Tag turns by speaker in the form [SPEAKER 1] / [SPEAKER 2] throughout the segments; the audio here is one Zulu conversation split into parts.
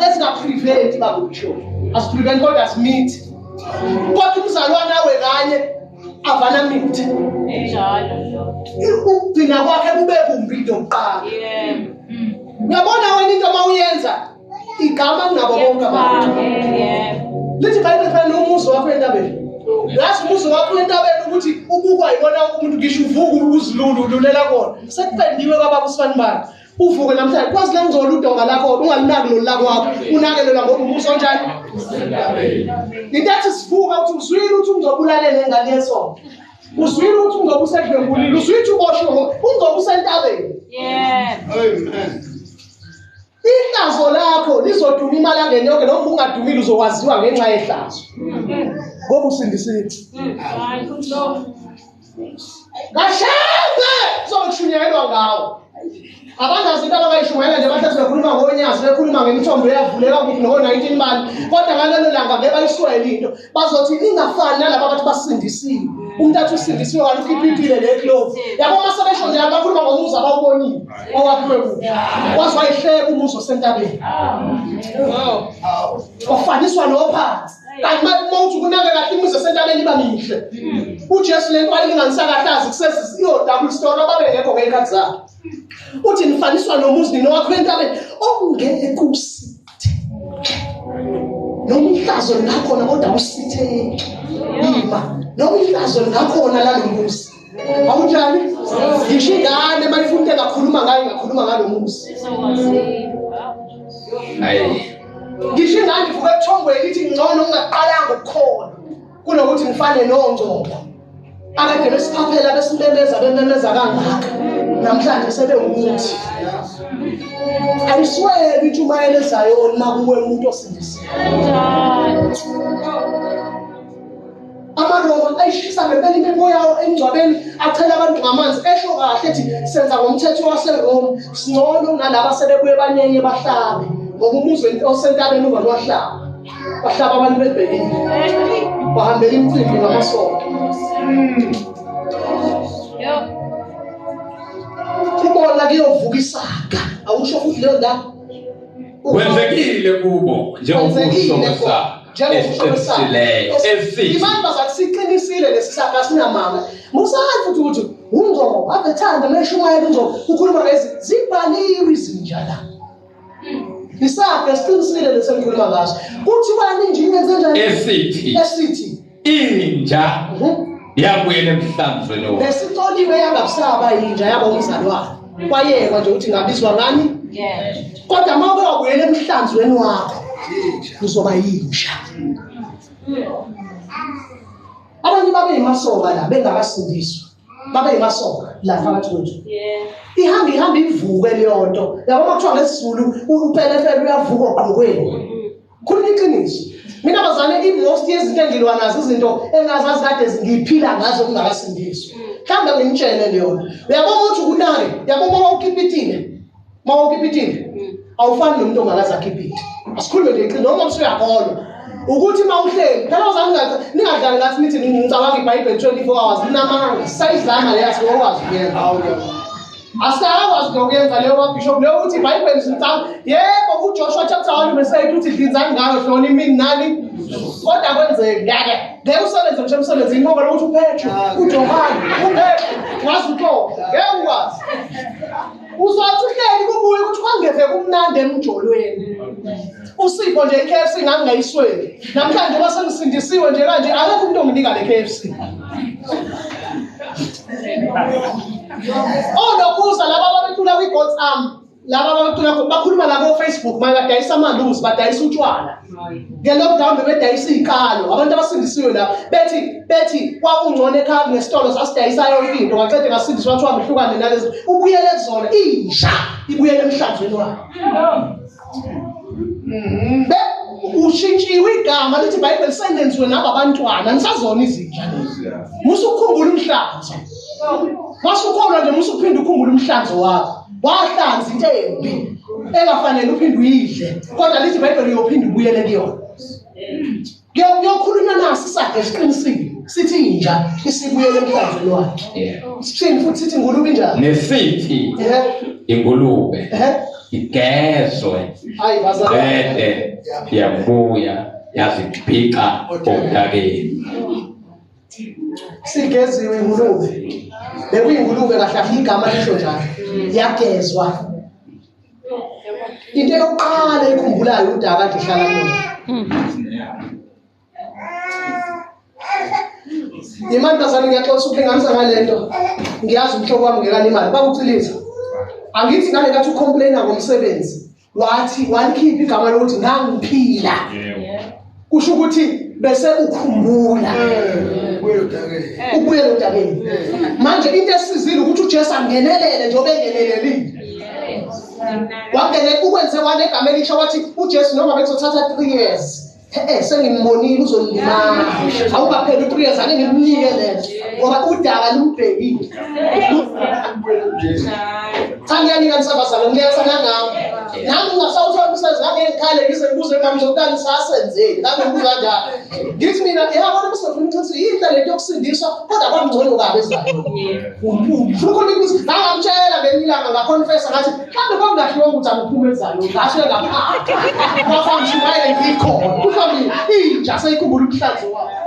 [SPEAKER 1] esingapreventi bakutsho asipreventi kodwa asimithi kodwa umzalwane awe kanye avana mithi ukugcina kwakhe kube kumbi into yokuqala uyabona wena into uma uyenza igama kunabo bonke abantu lithi bhayibheli fana nomuzi wakho entabeni yazi umuzi wakho entabeni ukuthi ubukwa yibona umuntu ngisho uvuka uzilulu ululela kona sekupendiwe kwabakusifani bani uvuke namhlanje kwazi langcola udonga lakho ungalinaki lolu lakwakho unakelelwa ngoba umbuso onjani into ethi sivuka ukuthi uzwile ukuthi ungizobulalela engane yesonto uzwile ukuthi ungoba usedlwengulile uzwile ukuthi uboshwe ungoba usentabeni ihlazo lakho lizoduma imali angene yonke noma ungadumile uzokwaziwa ngenxa yehlazo ngoba usindisithi Kashembe sokushunyelwa ngawo. Abangazi into abangayishumayela nje bahlezi bekhuluma ngonyazi bekhuluma ngemithombo eyavuleka kuphi noko-19 bani kodwa ngalelo langa ngeke bayiswele into bazothi ingafani nalaba abathi basindisiwe umuntu athi usindisiwe kanti ukhipha impile le clove yabo uma sebesho njalo bakhuluma ngomuzi abawubonile owakhiwe kuphi waze wayihleka umuzi osentabeni wafaniswa nophansi kanti uma uthi ukunake kahle imizi esentabeni iba mihle ujesu le nto ayilinganisakahlazi kusesiyodabula story ababengekho ngey'khathi zakhe uthi nifaniswa nomuzi nini wakho entabeni okungeke kusithe nomhlazo lingakhona kodwa usithe ima nomhlazo lingakhona lalo muzi awunjani ngisho ingane uma ifuna into engakhuluma ngayo ingakhuluma ngalo muzi ngisho ingane ivuka ebuthongweni ithi ngcono ungaqalanga ukukhona kunokuthi ngifane nongcobo akade besiphaphela besimemeza bememeza kangaka namhlanje sebewukuthi ayisweli intshumayelo ezayoni makuwe umuntu osindisiwe amaroma ayishisa ngempela impepho yawo emngcwabeni achela abantu ngamanzi esho kahle ethi senza ngomthetho waseroma singcono nalaba sebebuye banyenye bahlabe ngoba umuzi osentabeni uba lwahlaba bahlaba abantu bebhekile bahambela imicimbi ngamasonto kubona kuyovuka isaga awusho futhi leyo ndawo kwenzekile
[SPEAKER 2] kubo njengokusho kwesakha esiqinisileyo
[SPEAKER 1] esithi siqinisile lesi sakha sinamanga musazi futhi ukuthi ungcobo abethanda meshumayela ungcobo ukhuluma lezi zibhaliwe izinja la hmm. isakha siqinisile lesi engikhuluma ngaso kuthiwani nje into enzenjani esithi esithi inja
[SPEAKER 2] yabuyela emhlanzweni wakhe besicoliwe yangakusaba
[SPEAKER 1] inja yaba umzalwane kwayekwa nje ukuthi ngabizwa ngani kodwa uma uke wabuyela emhlanzweni wakho uzoba yinja abanye babe yimasoka la bengakasindiswa babe yimasoka la phakathi kwethu ihamba ihamba ivuke leyo nto yabo uma kuthiwa ngesizulu upelepele uyavuka ogqokweni khuluma iqiniso mina bazane i-most yezinto engilwa nazo izinto engazazi kade ngiyiphila ngazo kungakasindiswa mhlawumbe ngimtshele leyona uyabona ukuthi ukunake uyabona uma ukipitile uma ukipitile awufani nomuntu ongakaze akhipite asikhulume nje iqiniso noma usuyakholwa ukuthi uma uhleli phela uzani ngathi ningadlali ngathi nithi ngicabanga ibhayibheli 24 hours ninamanga sayidlanga leyathi ngokwazi kuyenza Asikakwazi nokuyenza leyo kabishop leyo ukuthi ibhayibheli sicanga yebo ujoshua chapter one verse eight uthi dlinzani ngayo hloni imini nani kodwa kwenzeki ngeke ngeke usebenze mshe emsebenzini ngoba lokuthi uphethwe ujohane uphethwe ngazi utoka ngeke ukwazi uzothi uhleli kubuye ukuthi kwangeve kumnandi emjolweni usipho nje iKFC ngami ngayisweli namhlanje uma sengisindisiwe nje kanje akekho umuntu onginika le KFC Oh nokuza laba babecula kwi God's arm laba babecula bakhuluma la ko Facebook manje badayisa amaluzi badayisa utshwala nge lockdown bebedayisa iziqalo abantu abasindisiwe la bethi bethi kwakungcono ekhaya ngesitolo sasidayisa yonke into ngaqede ngasindiswa kuthiwa ngihlukane nalezi ubuyele kuzona inja ibuyele emhlanzweni wayo Mhm. Be ushintshiwe igama lithi iBhayibheli sengenziwe nabo abantwana nisazona izinja lezi. Musa ukukhumbula umhlanzo. Mase ukhona nje musa uphinde ukhumbule umhlanzo wakho. Wahlanza into embi engafanele uphinde uyidle. Kodwa lithi iBhayibheli uyophinde ubuyele kuyona. kuyokhulunywa naso isakhe siqinisile sithi inja isibuyele emhlanzweni wakhe sithini futhi sithi
[SPEAKER 2] ingulube
[SPEAKER 1] injani nesithi
[SPEAKER 2] ingulube
[SPEAKER 1] igezwe
[SPEAKER 2] bede yabuya yaziphica odakeni
[SPEAKER 1] sigeziwe ingulube bekuyingulube kahle igama lisho njalo yagezwa into yokuqala ikhumbulayo udaba kade ihlala kuyona imantombazane ngiyaxoxa uphingamisa ngale nto ngiyazi umhlobo wami ngekani imali bakucilisa angithi ngale kathi ucomplaina ngomsebenzi wathi walikhipha igama lokuthi ngangiphila kusho ukuthi bese ukhumbula ubuyela odakeni manje into esizile ukuthi uJesu angenelele njengoba engenelelile wangene ukwenze wane egama elisha wathi uJesu noma bekuzothatha 3 years Eh sengimbonile uzolimala. Awukapheli u3 years ake ngimnike lento. Ngoba udaba lumbhekile. Cha ngiyanika nisabazana ngiyasana ngami. nami ngasawuthola umsebenzi ngake ngikhale ngize ngibuze ngami ngizokutani sasenzeni ngake ngibuza njalo ngithi mina yabona kusefuna ukuthi yinhle lento yokusindiswa kodwa kwangcono kabi ezayo ukhona ukuthi ngangamtshela ngelinye ilanga ngaconfessa ngathi mhlawumbe kwangahliwa ukuthi angiphume ezayo ngashe ngaphandle kwafangishimaya ngikhona kuhlambile inja seyikhumbula umhlanzi wayo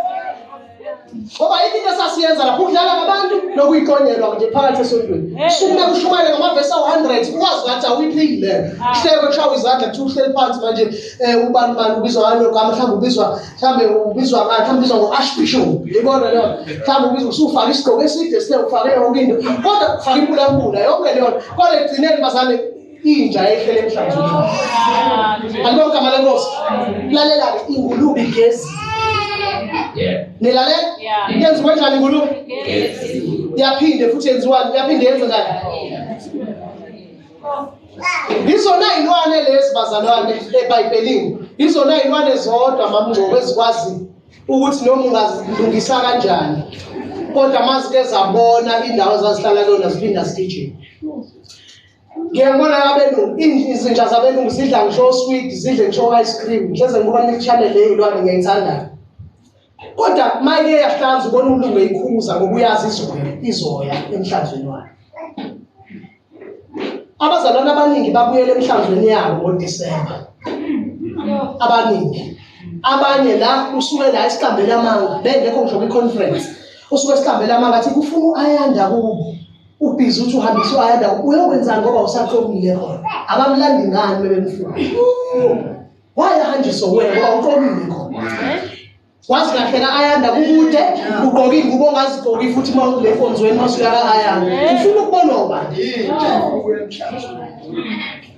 [SPEAKER 1] ngoba yini into esasiyenza lapho ukudlala ngabantu nokuyiqonyelwa nje phakathi esontweni sukume kushumayele ngamavesi awu-hundred ukwazi ngathi awuyiphili leyo ah. kuhleke kushawa izandla kuthiwa uhleli phansi manje um ubani mani ubizwa ngani ogama mhlawumbe ubizwa mhlawumbe ubizwa ngani mhlawumbe ubizwa ngo-ashbishop yibona leyo mhlawumbe ubizwa usufake isigqoko eside sine ufake yonke into kodwa ufake impulapula yonke leyo kodwa ekugcineni bazane inja ehlele emhlanzweni alibona igama lenkosi lalela-ke ingulube igezi nilalela yenziwe njani ingulube yaphinde futhi yenziwani yaphinde yenze njani yizona iy'lwane lezi bazalwane ebhayibhelini yizona iy'lwane zodwa mamngcobo ezikwazi ukuthi noma ungazilungisa kanjani kodwa mazike zabona indawo ezazihlala kuyona ziphinda zigijima ngiyabona abelungu izinja zabelungu zidla ngisho osweet zidle ngisho ice cream ngihleze ngibona ne-channel le ilwane ngiyayithandayo kodwa mayike yahlanza ubona umlungu eyikhuza ngoba uyazi izoya izoya emhlanzweni wayo abazalwane abaningi babuyela emhlanzweni yabo ngodisemba abaningi abanye la usuke la isiqambela amanga bengekho ngisho kwi-conference usuke esiqambela amanga athi kufuna u-ayanda kubo ubhizi uthi uhambisa uayanda uyokwenzani ngoba usaqomile khona abamlandi ngani bebemfuna wayahanjiswa wena ngoba uqomile khona wazi kahle ka-ayanda kukude ugqoke ingubo ongazigqoki futhi uma ule nkonzweni masuya ka-ayanda ufuna ukubonwa ubani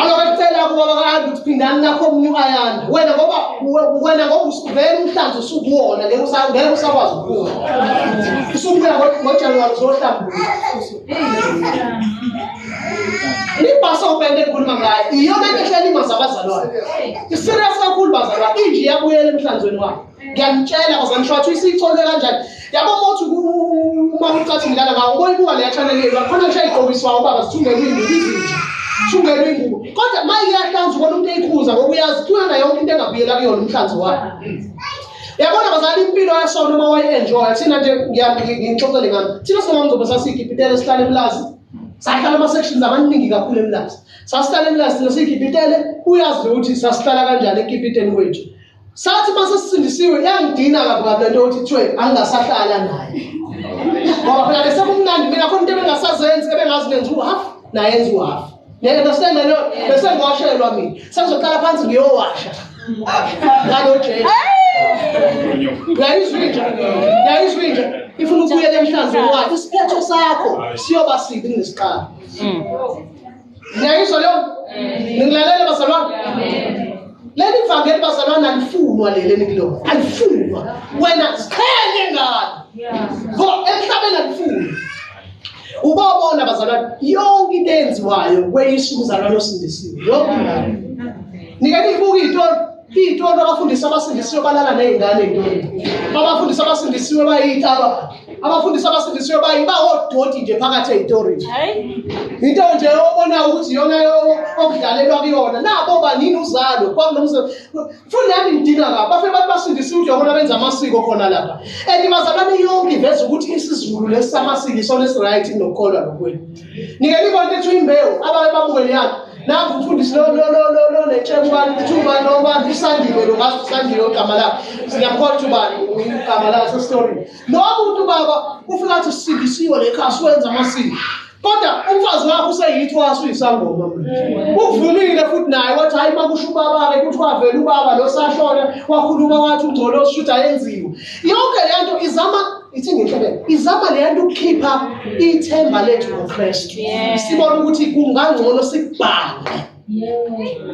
[SPEAKER 1] Alokacela kuba bakahambe ukuthi phindani nakho omunye uAyanda. Wena ngoba wena ngoba usivela umhlanzo usukuwona ngeke usa- ngeke usakwazi ukubuya. Usubuya ngo- ngoJanuwari uzohlambuluka. Ibhasi obende ekhuluma ngayo iyona nto ehlelimaza abazalwane. Iserious kakhulu bazalwane inje iyabuyela emhlanzweni wakhe. ngiyamtshela cause I'm sure ukuthi isiyitholwe kanjani yabo uma uthi uma ucathi ngidlala ngawo ubona ibuka leya channel yenu akhona ngisho ayigqokiswayo ubaba sithungele iy'ngubo izinja thungele iy'ngubo kodwa uma iyahlanza ubona umuntu eyikhuza ngoba uyazi kuyona yonke into engabuyela kuyona umhlanzi wayo yabona bazali impilo yasona uma wayi-enjoya thina nje ngixoxele ngami thina singamzobe sasigibhitele sihlale emlazi sahlala ama-sections amaningi kakhulu emlazi sasihlala emlazi thina sigibhitele uyazi ukuthi sasihlala kanjani ekibhiteni kwethu sathi uma sesisindisiwe yangidina kabi kabi lento yokuthi kuthiwe angingasahlala naye ngoba phela bese kumnandi mina khona into ebengasazenzi ebengazi nenza uhalf nayenza uhalf ngeke understand leyo bese ngiwashelwa mina sengizoqala phansi ngiyowasha ngalo jesu uyayizwa inja uyayizwa inja ifuna ukubuyela emhlanzeni wakhe isiphetho sakho siyoba sibi kunesiqala hmm. Ngiyayizwa leyo? Ningilalela bazalwane? Leli vangeli bazalwane alifunwa leli enikulo. Alifunwa. Wena ziqhenye ngalo. Ngo emhlabeni alifunwa. Ubabona bazalwane yonke into eyenziwayo kweyisa umzalwane osindisiwe. Yonke ingane. Nika niyibuka itori Into abafundisi abasindisiwe balala nezingane intoni. Abafundisi abasindisiwe bayitaba. Abafundisi abasindisiwe bayiba odoti nje phakathi ezitorini. Into nje obona ukuthi yona okudlalelwa kuyona. Nabo banini uzalo kwakunomsebenzi. Futhi nami ngidinga lapha. Bafike bathi basindisiwe nje bona benza amasiko khona lapha. And mazalwane yonke iveza ukuthi isiZulu lesi samasiko isona esiright nokukholwa nokwenu. Nike libona ukuthi uyimbewu abaye babuke leyana. Naku mfundisi lo lo lo lo lo netshe ubani ukuthi ubani lo ubani usandiwe lo ngathi usandiwe ogama lakhe. Siyamkhola ukuthi ubani igama lakhe sestory. Lo muntu baba ufika athi sindisiwe lekhaya siwenza amasiko. Kodwa umfazi wakho useyithi waso uyisangoma. Uvumile futhi naye wathi hayi makusho ubaba ke kuthi wavela ubaba lo sashona wakhuluma wathi ungcolo ushuthi ayenziwe. Yonke lento izama ithi ngihlebe izama le nto ukukhipha ithemba lethu ngoKristu sibona ukuthi kungangcono sikubhange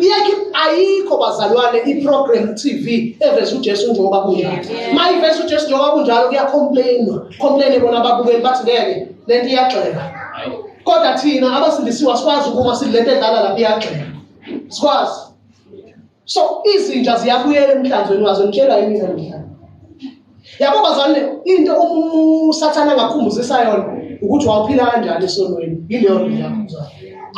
[SPEAKER 1] iyakhe ayikho bazalwane iprogram TV eveza uJesu njengoba kunjalo mayiveza uJesu njengoba kunjalo kuyacomplainwa complain bona ababukeli bathi ngeke lento iyagxeka kodwa thina abasindisiwe asikwazi ukuma silento edlala lapha iyagxeka sikwazi so izinja ziyabuyela emhlanzweni wazo ngitshela yini namhlanje yabo bazane into usathana angakhumbuzisa yona ukuthi wawuphila kanjani esonweni yileyo nto yakho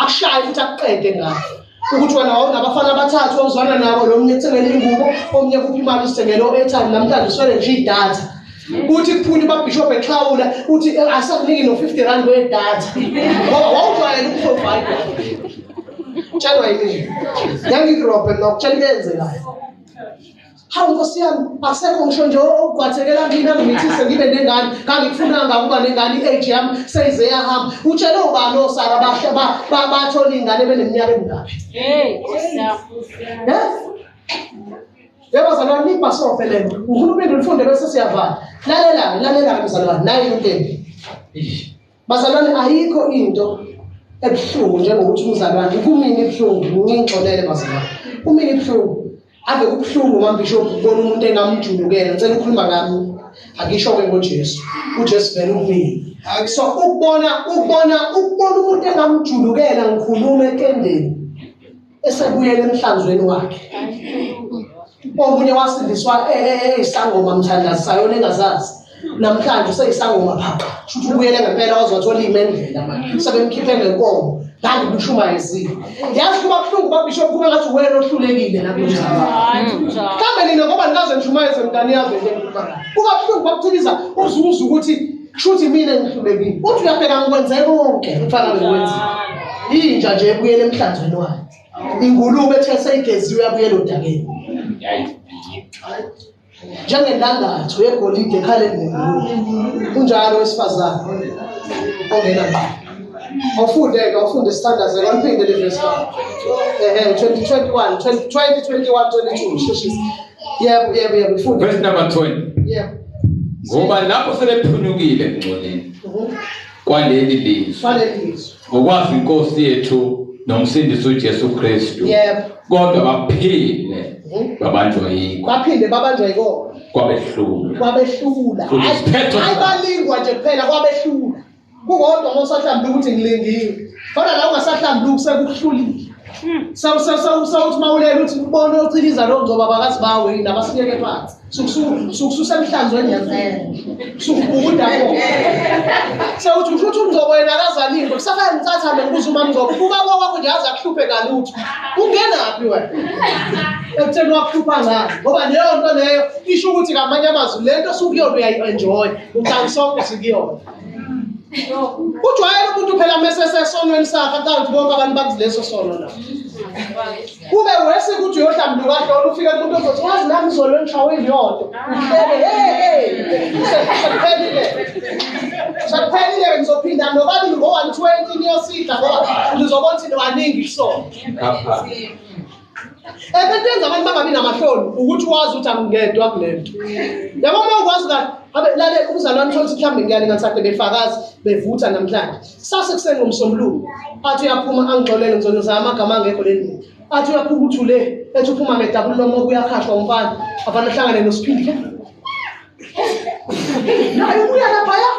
[SPEAKER 1] akushaye futhi akuqede ngayo ukuthi wena wawunabafana abathathu ozwana nabo lo mnye ethengele ingubo omnye kuphi imali usithengele o-airtime namhlanje uswele nje idatha kuthi kuphuma ubabhishobhu exhawula uthi eh, asakuniki no-fifty rand wedatha ngoba wawujwayela ukuprovide tshelwa yini yangirobhe mna kutshela into eyenzekayo hawu nkosi yami akusekho ngisho nje ogqwathekela mina ngimithise ngibe nengane ngangikufunanga ukuba nengane i-age yami seyize yahamba utshele ubani osara bathola iy'ngane beneminyaka emingaphi Yebo bazalwane nibhasofe le nto. Uhulumeni ulifunde bese siyavala. Lalelani, lalelani bazalwane. Nayi into embi. Bazalwane ayikho into ebuhlungu njengokuthi umzalwane kumini ibuhlungu ngingixolele bazalwane. Kumini ibuhlungu. Ave kubuhlungu mambishop ukubona umuntu engamjulukela. Ngicela ukukhuluma ngami. Akisho-ke ngoJesu. UJesu vele umini. So ukubona ukubona ukubona umuntu engamjulukela ngikhuluma etendeni. esebuyela emhlanzweni wakhe omunye wasindiswa e, e, e, eyisangoma mthandazi sayona engazazi namhlanje useyisangoma phaqa shuthi ubuyele ngempela wazothola imendlela manje sebemkhiphe ngenkomo ngani kushumayezile yazi kuba buhlungu babishop kube ngathi wena ohlulekile nakumhlawumbe nina ngoba nikaze nishumayeze mntani yazi kuba buhlungu bakuthiliza uzuza ukuthi Kushuthi mina ngihlulekile. Uthi uyabheka ngikwenze konke mfana ngikwenza. Inja nje ebuyele emhlanzweni wayo. Ingulube ethe seyigeziwe yabuyela odakeni. Njengendandatho yegolide ekhaleni ngengulube. Kunjalo wesifazane ongena ngqo. Awufunde ke awufunde sithandaze kwaliphinde le verse. Eh 2021 2021 22 sheshisa. Yebo yebo yebo mfundisi. Verse number 20. Yebo. Ngoba
[SPEAKER 2] lapho sebephunyukile ngcoleni. Mhm. Kwaleli lizwi. Kwaleli lizwi. Ngokwazi inkosi yethu nomsindisi uJesu Kristu. Yebo. Kodwa baphile mhm. babanjwa yikho. Baphinde babanjwa
[SPEAKER 1] yikho. Kwabehlula.
[SPEAKER 2] Kwabehlula. Hayi
[SPEAKER 1] balingwa nje kuphela kwabehlula. kukodwa uma usahlambile ukuthi ngilindiwe kodwa la ungasahlambile ukusekuhlulile sawuthi uma ulela uthi ubone ociliza lo ngcoba bakazi bawo yini abasiyeke phansi sukususa emhlanzweni ngempela sukubukuda ko sewuthi usho ukuthi umngcobo yena akazalile kusafana ngitsatha mina ngibuza uma mngcobo ubuka kwakho nje aze akuhluphe kalutho ungenaphi wena ekutheni wakuhlupha ngani ngoba leyo nto leyo isho ukuthi ngamanye amazwi le nto sukuyona uyayi-enjoya ucangisonke sikuyona ujwayele umuntu phela mesesesonweni sakhe acathi bonke abantu bakuzileso sono na kube wese ukuthi uyohlambuluka hlolo ufike kumuntu ozothi wazi nami izolo engishawe iyodwa uhlele hey sekuphelile sekuphelile ngizophinda nobabili ngo-one twenty niyosidla ngoba ngizobona ukuthi waningi kusona Ebetwenza abantu bangabi namahloni ukuthi wazi ukuthi angingedwa kule nto. Yabo uma ukwazi kahle abe lale umzalwane uthola ukuthi mhlawumbe ngiyale ngathi befakazi bevutha namhlanje. Kusase kuseni ngomsombuluko athi uyaphuma angixolele ngizono zama amagama angekho le ndini. Athi uyaphuma uthule ethi uphuma ngedabulo lomo kuyakhashwa umfana afana hlangane nosiphindile. naye ubuya laphaya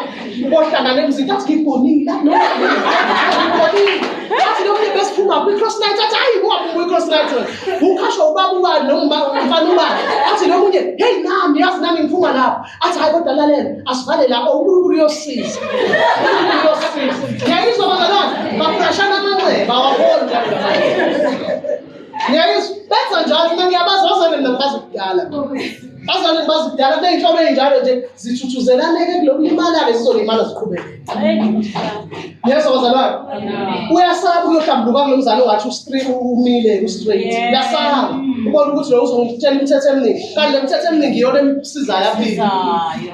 [SPEAKER 1] ohlangane mzini athi ngibonile la no ngibonile athi lo mlebe siphuma kwi-cross night athi hayi ungaphuma kwi-cross night ukhashwa ubaba ubani noma umfana ubani athi lo munye heyi nami yazi nami ngiphuma lapho athi hayi kodwa lalela asivale la unkulunkulu uyosiza unkulunkulu uyosiza ngiyayizwa bazalwane baphashana amanxeba awaboni Ngiyayizwa benza njalo mina ngiyabazi bazane mina ngibazi kudala. Bazane ngibazi kudala kuney'nhlobo ey'njalo nje zithuthuzelane-ke kulokulimala-ke zizolimala ziqhubeke. Yeso bazalwane uyasaba uyohlambuluka kulo mzali ongathi ustri- umile ustraight uyasaba ubona ukuthi lo uzongitshela imithetho eminingi kanti le mithetho eminingi iyona emsizayo aphile Sizayo.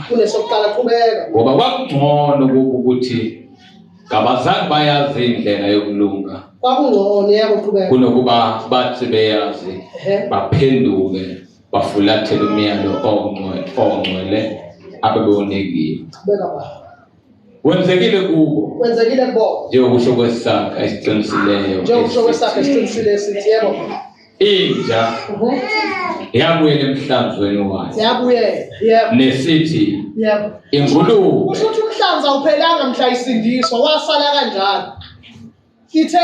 [SPEAKER 1] kunesokuqala qhubeka ngoba kwakungcono
[SPEAKER 2] kubo ukuthi kabazange bayazi indlela yokulunga kwakungcono
[SPEAKER 1] yebo qhubeka kunokuba bathi
[SPEAKER 2] beyazi baphenduke bafulathele umyalo ongcwele ongcwele abebewunikiwe qhubeka baba
[SPEAKER 1] wenzekile
[SPEAKER 2] kubo kwenzekile kubo njengokusho kwesakha esiqinisileyo njengokusho kwesakha
[SPEAKER 1] esiqinisile esithi yebo inja
[SPEAKER 2] Mhm. yabuyela emhlanzweni wayo siyabuyela yebo nesithi yebo ingulube kusho ukuthi umhlanza
[SPEAKER 1] awuphelanga mhla isindiswa wasala kanjalo ithe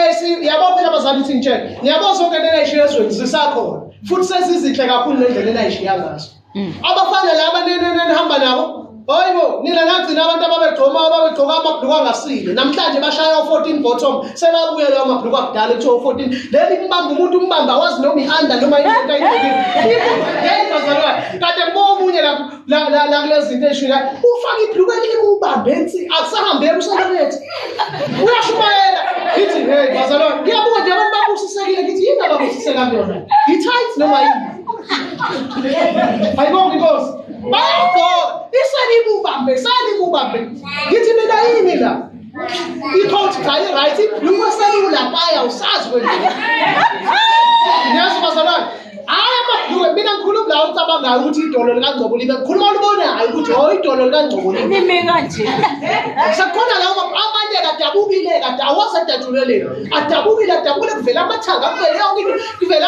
[SPEAKER 1] yabo phela abazali ukuthi ngitshele ngiyabo zonke lena ishiya ezweni zisakhona futhi sezizinhle kakhulu nendlela enayishiya ngazo mm. abafana laba nenihamba nabo hayibo nina nagcina abantu ababegcoma ababegcoka amabhluku angasile namhlanje bashaya o-14 bottom sebabuye lawo mabhluku akudala kuthiwa u-14 leli mbamba umuntu umbamba awazi noma i-anda noma indoda yini yini bazalwane kade kubo omunye lapho la la la kulezi zinto esho la ufaka ibhluku elikubambe ensi akusahambe emsakanethi uyashumayela ngithi hey bazalwane ngiyabuka nje abantu babusisekile ngithi yini ababusiseka kuyona yi-tight noma yini ayibonge inkosi bayagqoka iselibubambe selibubambe ngithi mina yini la icoach cha i-right ibhlungu eselula paya usazi kwenzeka niyazi ubazalwane hayi amabhlungu mina ngikhuluma la ucabangayo ukuthi idolo likangcobo libe ngikhuluma olubonayo ukuthi o oh, idolo likangcobo libe kanje
[SPEAKER 3] sekukhona
[SPEAKER 1] lawo amanye kadabukile kade awasadajuleleni adabukile adabukile kuvela amathanga kuvele yonke into kuvela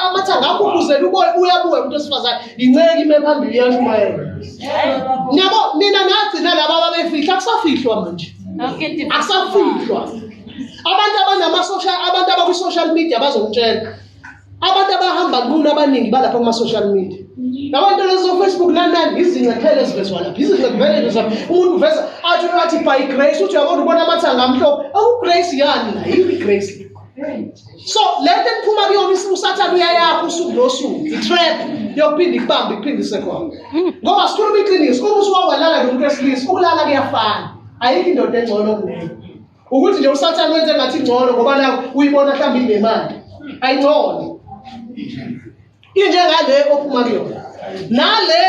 [SPEAKER 1] amathanga akhumuzela uboya uyabuya umuntu wesifazane yinceki ime phambili yashumayela nabo nina nagcina laba babefihla akusafihlwa manje akusafihlwa abantu abanamasocial abantu abakwi-social media bazongitshela abantu abahamba lula abaningi balapha kuma-social media nabantu lezofacebook nanani izincephelo ezivezwa lapha izincephelo zam umuntu uveza athi athi by grace uthi uyabona ubona amathanga amhlophe awugrace yani la yini igrace so le nto eniphuma kuyona usathane uyayakho usuku nosuku i-trap yokuphinda ikubambe ikuphinde isekhona ngoba sikhuluma iqiniso uma usuwawalala nomuntu wesilisa ukulala kuyafana ayikho indoda engcono kuleyo ukuthi nje usathane wenze ngathi ingcono ngoba nayo uyibona mhlawumbe inemali ayingcono injengale ophuma kuyona nale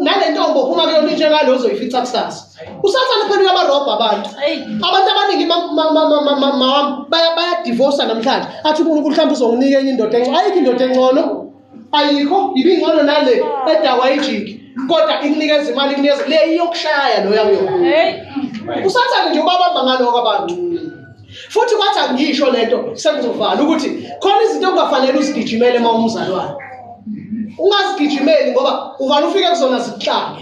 [SPEAKER 1] nale ntombo ophuma kuyona injengale ozoyifica kusasa usathane phela uyabarobha abantu abantu abaningi bayadivosa namhlanje athi unkulunkulu mhlawumbe uzonginika enye indoda encono ayikho indoda encono ayikho ibingcono nale edakwa ijiki kodwa ikunikeza imali ikunikeza le iyokushaya loya kuyona usathane nje ubabamba ngaloko abantu futhi kwathi angiyisho le nto sengizovala ukuthi khona izinto ongafanele uzigijimele uma umzalwane ungazigijimeli ngoba uvale ufike kuzona zikuhlange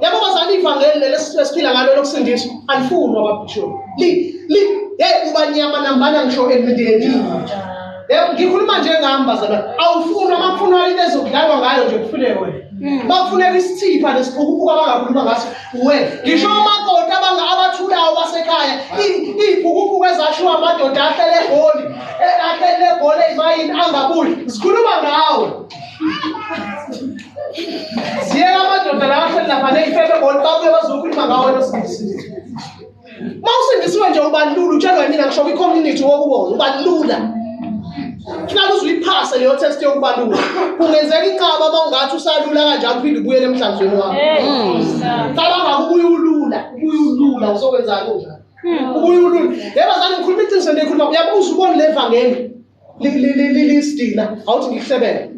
[SPEAKER 1] yabo bazali ivangeli leli esiphila ngalo lokusindiswa alifunwa ababhishoni li hey ubanyama nambana ngisho emndenini yebo ngikhuluma njengami bazalwane awufunwa uma kufunwa into ezokudlalwa ngayo nje kufuneke wena bakufuneka isithipha nesiphukuphukwa bangakhuluma ngaso uwe ngisho omakoti abanga abathulayo basekhaya iy'phukuphuku ezashiwa amadoda ahlele egoli e- ahlele egoli ezimayini angabuyi zikhuluma ngawe ziyeka amadoda la ahleli lapha ney'febe egoli babuye bazokhuluma ngawe nosilisa uma usindisiwe nje ubalula utshelwa yimina ngisho kwi-community wokubo ubalula funaka uze uyiphase leyo test yokubalula kungenzeka inqaba uma ungathi usalula kanjani uphinde ubuyele emhlanzweni wakho qala ngakubuye ulula ubuye ulula uzokwenzani unjani ubuye ulula yebazane ngikhuluma iqiniso ndiyikhuluma uyabuza ubone le vangeli lisidina awuthi ngikuhlebele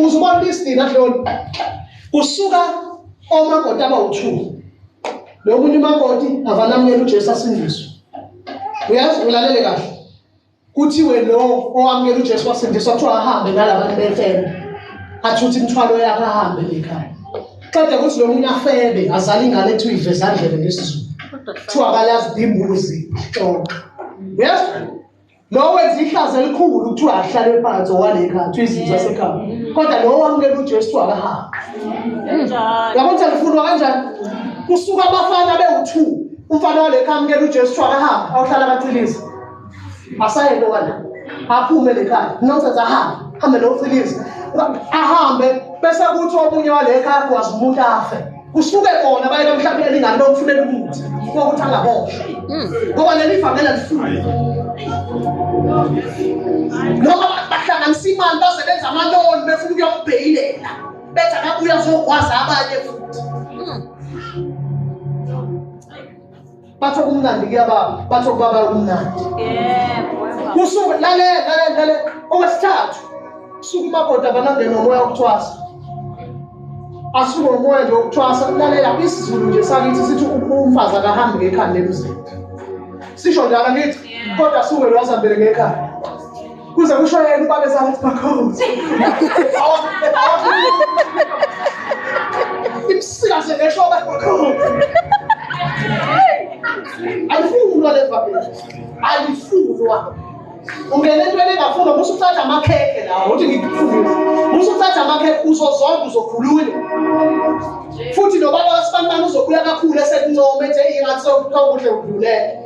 [SPEAKER 1] uze ubona lisidina hloni kusuka omakoti abawu-two lo munye umakoti avanamukela ujesu asindiswe uyazi ulalele kahle kuthiwe lo owamukela ujesu wasindiswa kuthiwa ahambe nalabantu befebe athuthe imithwalo yakhe ahambe ekhaya qeda kuthi lo munye afebe azale ingane ethi uyivesandlebe ngesizulu kuthiwa akalazi imbuzi xoxa uyazi Lo wenza ihlazo elikhulu kuthiwa ahlale phansi owale ekhaya kuthiwa izinto zasekhaya. Mm. Kodwa lo wamukela uJesu akahambe. Yabo ukuthi alifunwa kanjani? Kusuka abafana bewu-2 umfana wale ekhaya amukela uJesu kuthiwa akahambe awuhlala amacilizi. Asayeke wala. Aphume le khaya. Nonsense ahambe. Hambe lo Philisi. Ahambe bese kuthi omunye wale ekhaya kwazi umuntu afe. kusuke kona baye bamhlaphela lingane bamfunela umuthi kokuthi angaboshwa hmm. ngoba leli vangela lifuni noma bahlanganisa imali baze benza amaloni befuna ukuyokubheyilela bethi akabuya zokwazi abanye futhi hmm. Batho kumnandi kuyababa, batho kubaba kumnandi. Yebo. Kusuka lale lale lale okwesithathu. Suka umakoti abanande nomoya wokuthwasa. Asuke umoya nje wokuthwasa lalela isiZulu nje sakithi sithi umfazi akahambi ngekhanda emzini. Sisho njalo ngithi kodwa suke lwazambele ngekhanda. kuze kusho yena ubabe sathi bakhozi imsika sengesho bakhozi ayifunwa le family ayifunwa ungena entweni engafuna musa uthatha amakhekhe lawo uthi ngikufundisa musa uthatha amakhekhe uzozonda uzokhulula futhi nobaba wasibanibani uzokhula kakhulu esekuncoma ethi eyi ngathi sokuthiwa kuhle udlulele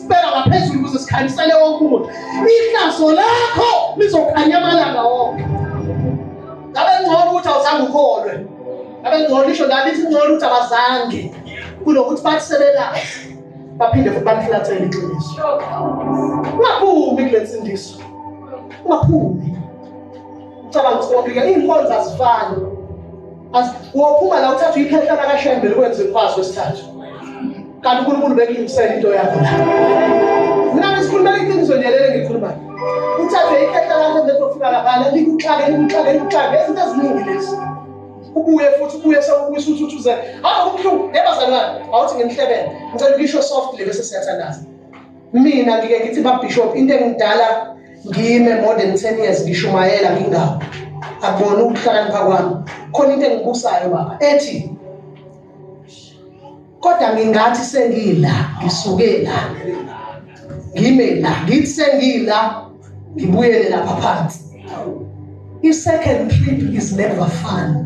[SPEAKER 1] sibeka ngaphezulu ukuze sikhanyisele wonke umuntu ihlazo lakho lizokhanya amalanga wonke ngabe ngcono ukuthi awuzange ukholwe ngabe ngcono isho ngabe ithi ngcono ukuthi abazange kunokuthi bathi sebelazi baphinde futhi bamhlathele iqiniso ungaphumi kule nsindiso ungaphumi Cabanga ukuthi konke iy'nkonzo azifani. Wophuma la uthatha uyikhehla lakashembele ukwenza imfazi wesithathu. Kanti uNkulunkulu bekulungisela into yakho la. Mina ngisikhulumela iqiniso nje leli ngikhulumayo. Uthathe ikhehla lakho bese ufika lapha likuxake likuxake likuxake izinto eziningi lezi. ubuye futhi ubuye sewubuyisa ukuthi uthi uze hawu kubuhlungu yebazalwane awuthi ngimhlebele ngicela ukisho softly bese siyathandaza mina ngike ngithi babishop into engidala ngime more than ten years ngishumayela ngingawo akubona ukuhlakanipha kwami khona into engibusayo baba ethi kodwa ngingathi sengila ngisuke la ngime la ngithi sengila ngibuyele lapha phansi i-second trip is never fun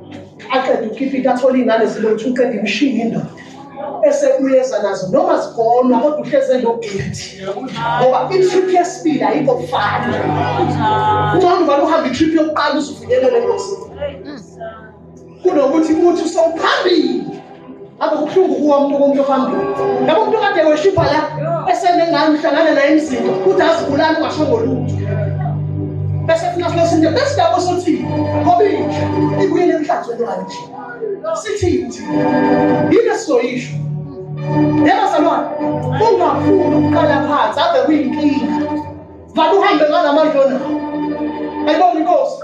[SPEAKER 1] aqeda ukipita athole iy'ngane zilothu uqeda imishini indoda bese uyeza nazo noma zigonwa kodwa uhleze nobhiti ngoba i-trip yesibili ayikho kufana ungcono ubani uhambe i-trip yokuqala uzufinyelele engozini kunokuthi uthi usewuphambili akubuhlungu kuwo umuntu komuntu ophambili ngabo umuntu okade weshipha la eseme ngani uhlangana naye emzini kuthi azibulali ungashongo lutho bese funa funa sinde bese lapho sothi ngoba inja ibuyele emhlanzweni wayo nje sithini thina yini esizoyisho yebo salwana ungafuni ukuqala phansi ave kuyinkinga vale uhambe ngalamandla onawo ayibona inkosi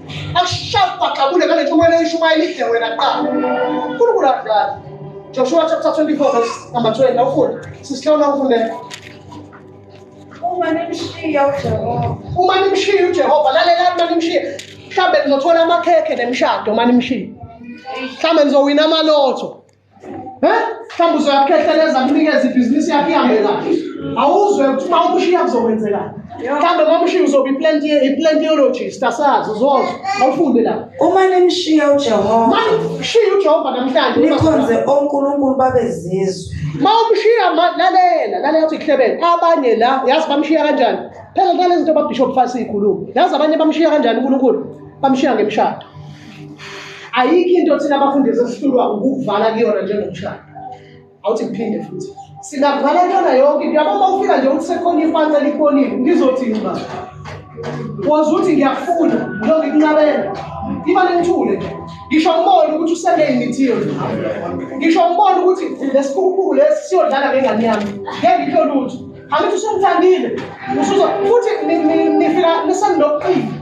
[SPEAKER 1] akushaqaqabule ngale ntshumayelo eyishumayela idle wena kuqala unkulunkulu adlali joshua chapter 24 verse number 12 nawufunda sisihlawula
[SPEAKER 3] ufundela uma nimshiya
[SPEAKER 1] ujehova uma nimshiya ujehova lalelani uma nimshiya mhlawumbe nizothola amakhekhe nemshado uma nimshiya mhlawumbe nizowina amalotho mhlawumbe uzoyakhehleleza kunikeza ibhizinisi yakho ihambe kahle awuzwe ukuthi uma umushiya kuzokwenzekani mhlawumbe uma umushiya uzoba iplantiologist asazi uzozwa awufunde la uma nimshiya
[SPEAKER 3] ujehova ma nimshiya
[SPEAKER 1] ujehova namhlanje nikhonze onkulunkulu
[SPEAKER 3] babezizwe ma umshiya
[SPEAKER 1] lalela lalela uthi kuhlebele abanye la yazi bamshiya kanjani phela nalezinto babishop fasi ikhuluma yazi abanye bamshiya kanjani unkulunkulu bamshiya ngemshado ayikho into thina abafundisi esihlulwa ukukuvala kuyona njengomshado awuthi ngiphinde futhi singavala kuyona yonke into yabo uma ufika nje ukuthi sekhona ifansa likhonile ngizothi ngiba wazi ukuthi ngiyakufuna ngiloke kunqabela iba nengithule nje ngisho ngibone ukuthi usele imithiyo ngisho ngibone ukuthi lesikhukhuku lesi siyodlala ngengane yami ngeke ngitho lutho angithi usengithandile futhi nifika nisenokuqina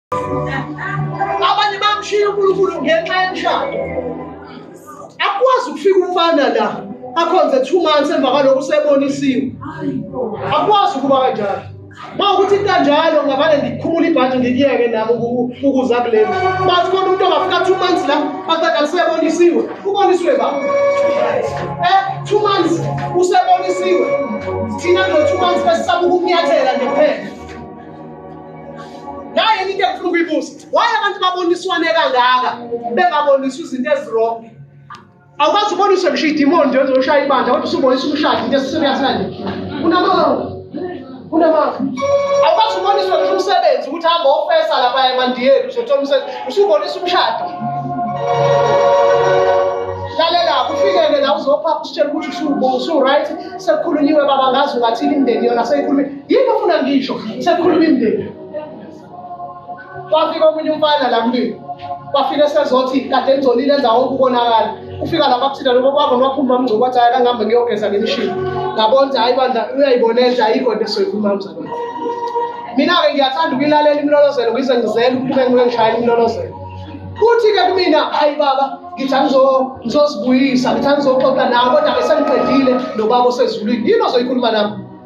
[SPEAKER 1] abanye bamshiya unkulunkulu ngenxa yemshado akwazi ukufika umfana la akhonze two months emva kwaloko usebonisiwe akwazi ukuba kanjalo ma ukuthi kanjalo ngavane ngikhumula ibhanti ngikuyeke nami ukuza kuleni bathi khona umuntu ongafika two months la baqeda usebonisiwe uboniswe ba eh two months usebonisiwe thina kulo two months besisaba ukumnyathela nje kuphela naye into efuna ukuyibuza waye abantu baboniswane kangaka bengaboniswa izinto ezirong awukwazi uboniswe ngisho idimoni nje ozoshaya ibandla kodwa usubonisa umshadi into esiserious kanje unamanga unamanga awukwazi uboniswe ngisho umsebenzi ukuthi hamba ofesa lapha emandiyeni uzothola umsebenzi usubonisa umshado lalela kufikele la uzophapha usitshela ukuthi usu-right sekukhulunyiwe baba ngazi ungathini imndeni yona seyikhulumile yini ofuna ngisho sekukhuluma imndeni kwafika omunye umfana la kumina kwafika esezothi kade ngizolile enza wonke ukonakala ufika lapha kuthina lokho kwavo ngiwaphuma mngcobo wathi hayi kangihambe ngiyogeza ngemishini ngabona ukuthi hayi bandla uyayibona enhle ayikho into esoyikhuluma mzalwane mina-ke ngiyathanda ukuyilalela imlolozelo ngize ngizele ukuthi ube ngike ngishayela imlolozelo kuthi-ke kumina hayi baba ngithi angizozibuyisa ngithi angizoxoxa nawo kodwa-ke sengiqedile nobaba osezulwini yini ozoyikhuluma nami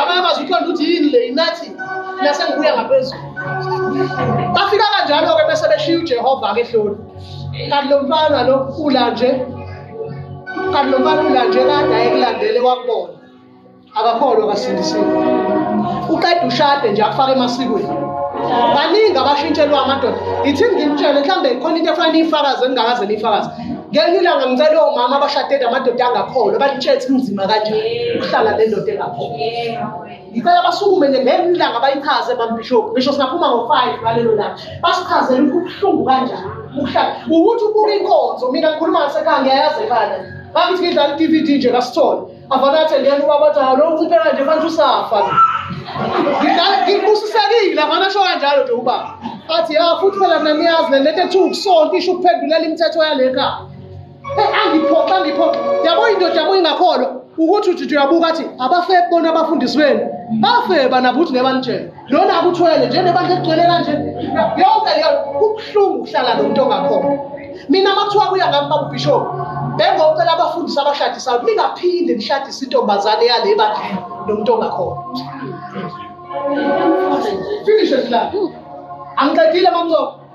[SPEAKER 1] abanye bazi uqonda ukuthi yini le inathi nase ngibuya ngaphezulu bafika kanjalo-ke bese beshiya ujehova-ke ehloni kanti lo mfana lo ula nje kanti lo mfana ula nje kade ayekulandele kwakubona akakholwa kasindisiwe uqeda ushade nje akufake emasikweni baningi abashintshelwa amadoda yithi ngimtshele mhlawumbe khona into efanele iyifakaze engingakaze niyifakaze ngenye ilanga ngicela omama abashade namadoda angakholwa balitshela ukuthi kunzima kanjani ukuhlala le ndoda engakholwa ngicela basukume nje ngenye ilanga bayichaze mambishop ngisho singaphuma ngo-five ngalelo langa basichazele ukuthi kubuhlungu kanjani ukuhlala ukuthi ubuka inkonzo mina ngikhuluma ngasekhaya ngiyayazi ekhaya bakithi ngidlala i-d v d nje kasithole Avana atendeni ubaba athi halo unciphe kanje fanele usafa. Ngikusisekile avana sho kanjalo nje ubaba. Athi ya futhi phela mina niyazi le lento ethi ukusonta isho ukuphendulela imithetho yale khaya. Hey angiphoxa angiphoxa. Yabo indoda yabo ingakholwa ukuthi uthi uyabuka athi abafebe bona abafundisi benu. Bafeba nabo ukuthi ngebanitshela. lona akuthwele njenebandla egcwele kanje yonke leyo kubuhlungu ukuhlala lo muntu ongakhona mina makuthiwa kuya ngami babubhishophu bengocela abafundisi abashadisayo ningaphinde nishadise intombazane yale ebandleni nomuntu ongakhona finish esilala angiqedile mamzoka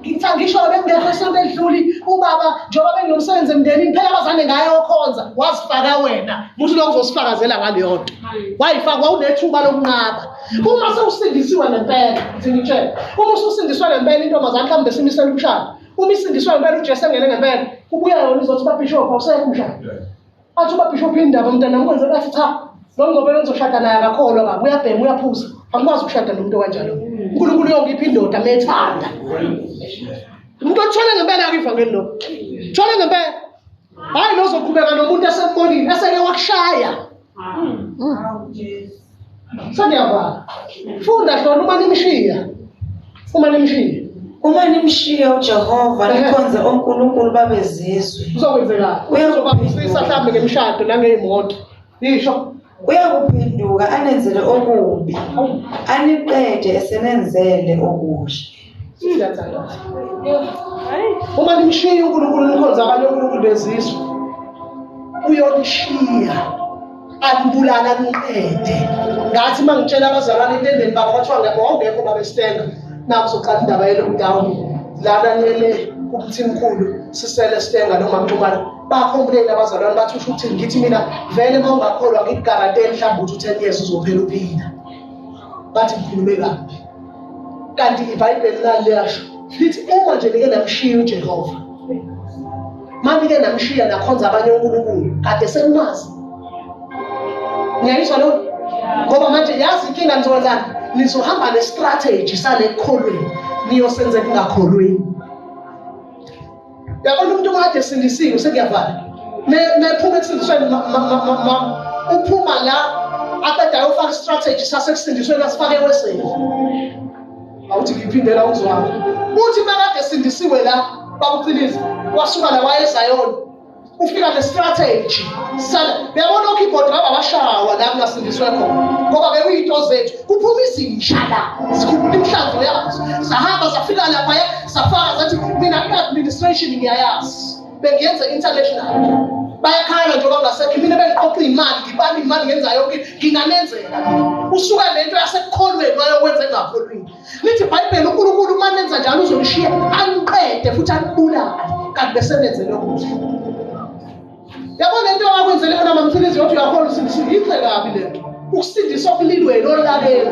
[SPEAKER 1] Ngitha ngisho bengekho esonto edluli ubaba njengoba benginomsebenzi emndenini phela abazane ngaye okhonza wazifaka wena muthi lokho uzosifakazela ngaleyo nto wayifakwa unethuba lokunqaba uma sewusindisiwe ngempela ngithi ngitshele uma ususindiswe ngempela intombazane mhlawumbe simisela umshado uma isindiswe ngempela ujesu engene ngempela kubuya yona izothi babhishophu awusekho umshado athi ubabhisho uphi indaba mntana ngikwenze bathi cha lo ngoba bengizoshada naye akakholwa kabi uyabhema uyaphuza angikwazi ukushada nomuntu okanjalo unkulunkulu uyongipha indoda methanda umuntu othole ngempela akivangeli lokho thole ngempela hhayi lozoqhubeka nomuntu esembonile eseke wakushaya Seniyavala. Funda hlona uma nimshiya. Uma nimshiya. Uma nimshiya uJehova nikhonze onkulunkulu babezizwe. Kuzokwenzeka. Uyakubhekisa mhlambe ngemshado nangeyimoto. Yisho. Uyakuphenduka anenzele okubi. Aniqede esenenzele okuhle. Siyathandaza. Uma nimshiya uNkulunkulu nikhonza abanye uNkulunkulu bezizwe. Uyonishiya. Anibulala niqede. Ngathi mangitshela abazalwane intendeni baba kwathiwa ngeke wawungekho baba estenga. Naku soqala indaba ye lockdown. Lana nele kumthimkhulu sisele stenga noma mxumana. Bakhompleni abazalwane bathi usho ukuthi ngithi mina vele mawungakholwa ngikugaranteni mhlawumbe uthi 10 years uzophela uphila. Bathi ngikhulume kabi. kanti ibhayibheli laliyasho lithi uma nje nike namshiya ujehova manike namshiya nakhonza abanye unkulunkulu kade senimazi ngiyayizwa loo ngoba manje yazi inkinga nizokwenzani nizohamba nestrateji salekukholweni niyosenzeka ingakholweni yabona umuntu kade esindisiwe sekuyavala mephuma ekusindisweni uphuma la aqeda ayofaka istrategy sasekusindisweni asifake eweseni awuthi ngiphindela uzwami uthi makade esindisiwe la bakuqiniza wasuka la wayezayona ufika nestrategy sala uyabona okeyboard laba abashawa la kungasindiswe khona ngoba bekuyinto zethu kuphuma izinja la zikhuphula imihlanzo yazo zahamba zafika laphaya zafaka zathi mina i-administration ngiyayazi bengiyenza international bayakhala njengoba ngasekho mina bengiqoqa iy'mali ngibani imali ngenza yonke nginganenzela usuka le nto yasekukholweni wayokwenza engakholwini lithi ibhayibheli unkulunkulu uma nenza njalo uzolishiya aniqede futhi anibulale kanti besenenzele okuhle yabo le nto akwenzele yona mamthilizi yothi uyakhona usindisile yinhle kabi le nto ukusindisa okulilweni olaleni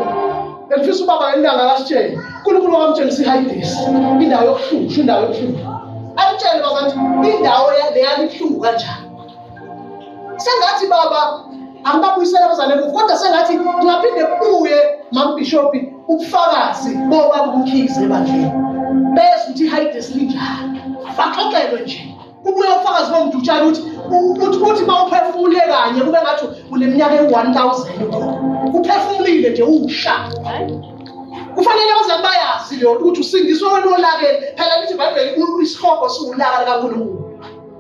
[SPEAKER 1] bengifisa ubaba ngentanga akasitshele unkulunkulu wakamtshengisa ihayidesi indawo yokuhlushwa indawo yokuhlushwa amtshele bazanti indawo leyalibuhlungu kanjani sengathi baba angibabuyisela abazane emuva kodwa sengathi ngingaphinde kubuye mambishobhi ubufakazi boba kumkhize ebandleni bezwa ukuthi ihayide silinjani baxoxelwe nje kubuye ufakazi bomdutshana ukuthi ukuthi ukuthi mawuphefumule kanye kube ngathi uneminyaka ewu-1000 ukhona uphefumulile nje uwusha kufanele abazali bayazi leyo ukuthi usindiswe wena olakeni phela lithi ibhayibheli isihogo siwulaka likankulunkulu